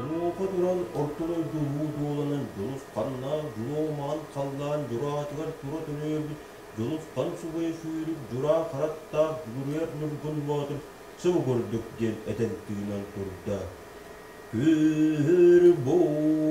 Онуоха туран орто дойду уу дуоланан Дьулус ханнаах дьулуомаҕын халлаан дьураатыгар тура төлөөбүт Дьулус хан субайа сүүрүк дьураа хараттаах Дүгүрүйэр Ньургун Боотур сыбы көрдүк диэн этэн тыынан турда. Күр буу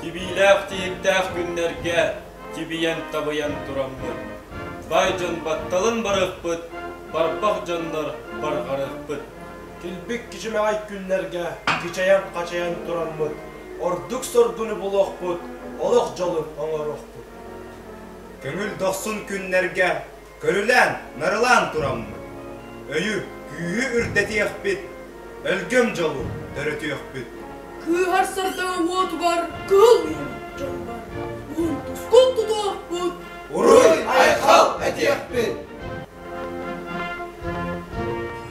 Тибиилээх тиһиктээх күннэргэ тибийэн-табыйан тураммыт, бай дьон батталын барыахпыт, барбах дьоннор барҕарыахпыт. Килбик кичимэҕэй күннэргэ кичэйэн-хачайан тураммыт, ордук соргуну булуохпут, олох дьолун оҥоруохпут. Көҥүл дохсун күннэргэ Көрүлээн, нарылаан тураммыт, өйү, күүһү үрдэтиэхпит, өлгөм дьолу төрөтүөхпүт. Кыыһар сырда уотугар кыыллыыр дьонугар уунтускун тутуохпут. Уруй-айхал этиэхпит!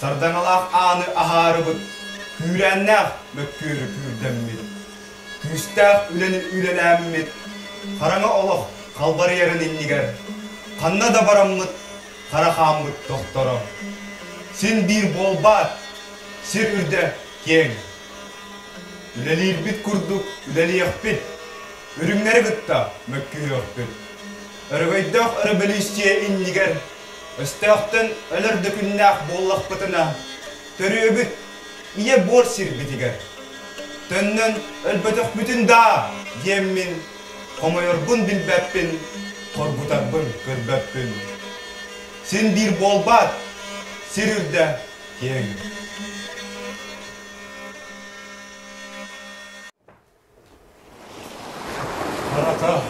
Сардаҥалаах ааны аһаарыбыт, күүрээннээх мөккүөрү күүрдэммит, күүстээх үлэни үлэлээммит, хараҥа олох халбарыйарын иннигэр ханна да бараммыт хара хааммыт тохторо. Син биир буолбаат, сир үрдэ киэҥ. Үлэлиирбит курдук үлэлиэхпит, үрүҥнэри кытта мөккүһүөхпүт. Өрөгөйдөөх өрөбөлүүссүйэ иннигэр Өстөөхтөн өлөр да күннээх буоллахпытына, төрүөбүт ийэ буор сирбитигэр, төннөн өлбөтөхпүтүн даа диэммин, хомойорбун билбэппин, хоргутарбын көрбөппүн. Син биир буолбаат, сир үрдэ киэҥ. Барата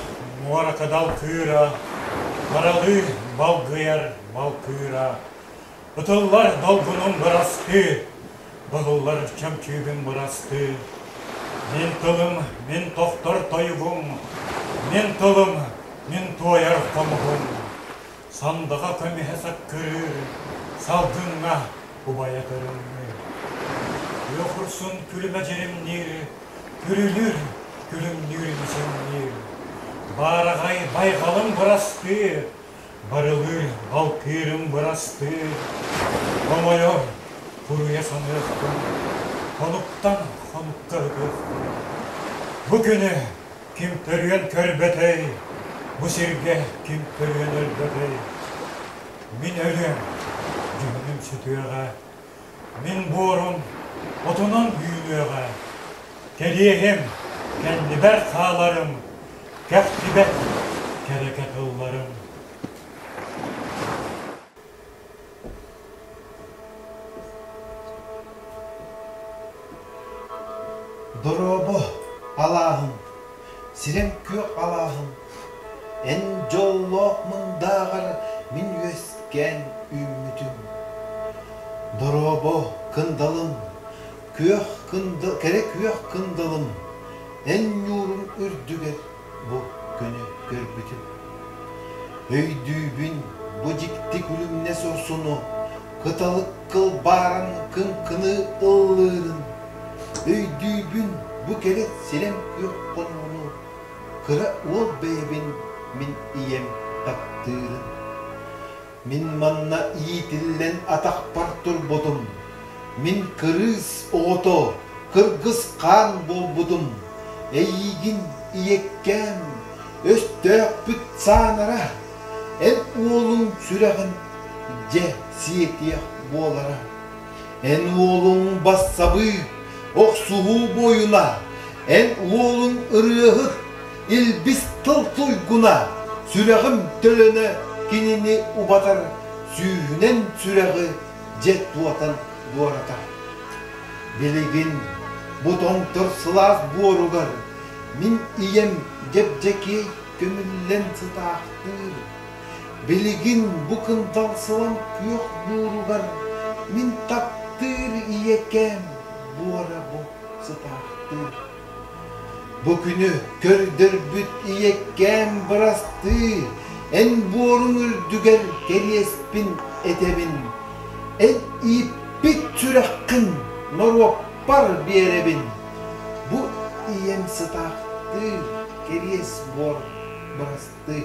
муоракадал кыыра, Баралыы балгыйар балкыыра, Ытыллар долгунум бырастыы, Былыллар чөмчүүбүн бырастыы. Мин тылым, мин тохтор тойугум, Мин тылым, мин туойар хомуһум. Сандаҕа көмүһэ саккырыыр, салгыҥҥа убайа көрүҥнүүр. Тыа хурсун күлүмэ дьиримниир, күрүлүүр, күлүмнүүр имичэҥниир. Баараҕай байҕалым бырастыы, барылыыр балтыырым бырастыы. Хомойор, буруйа саныахпын, хонуктан хонукка ытыахпын. Бу күнү Ким төрүөн көрбөтөй, бу сиргэ ким төрүөн өлбөтөй? Мин өлүөм, дьүһүнүм сүтүөҕэ, мин буорум отунан үүнүөҕэ. Кэлиэһим, кэннибэр хааларым, кэхтибэт кэрэкэ тылларым. Дорообо, алааһым, сирэм күөх алааһым, эн дьоллоох мындааҕар мин үөскээн үүммүтүм. Дорообо кындалым, күөх кындыл, кэрэ күөх кындалым, эн ньуурум үрдүгэр бу күнү көрбүтүм. Өйдүүбүн, бу дьикти күлүмнэс урсуну кыталык кылбааран кыҥкыны ыллыырын. Өйдүүбүн, бу кэрэ силэм күөх хонууну кыра уол бэйэбин мин ийэм таптыырын. Мин манна иитиллэн атахпар турбутум. Мин кырыыс оҕото, кыргыс хаан буолбутум. Эйиигин ийэккээн, өстөөхпүт саанара, эн уолуҥ сүрэҕин дьэ сиэтиэх буолара. Эн уолуҥ бассабыы, охсуһуу буойуна, эн уолуҥ ырыаһыт, Илбис тыл туйгуна, сүрэҕим төлөнө кинини убатар, сүүһүнэн сүрэҕи дьэ туотан буоратар. Билигин бу тоҥтор сылаас буоругар мин ийэм дьэбдьэкиэй көмүллэн сытаахтыыр. Билигин бу кынталсылан күөх бууругар мин таптыыр ийэкээм буора бу сытаахтыыр. Бу күнү көрдөрбүт ийэккээм бырастыы, эн буоруҥ үрдүгэр кэриэспин этэбин, эн ииппит сүрэххин норуоппар биэрэбин. Бу ийэм сытаахтыыр кэриэс буор бырастыы.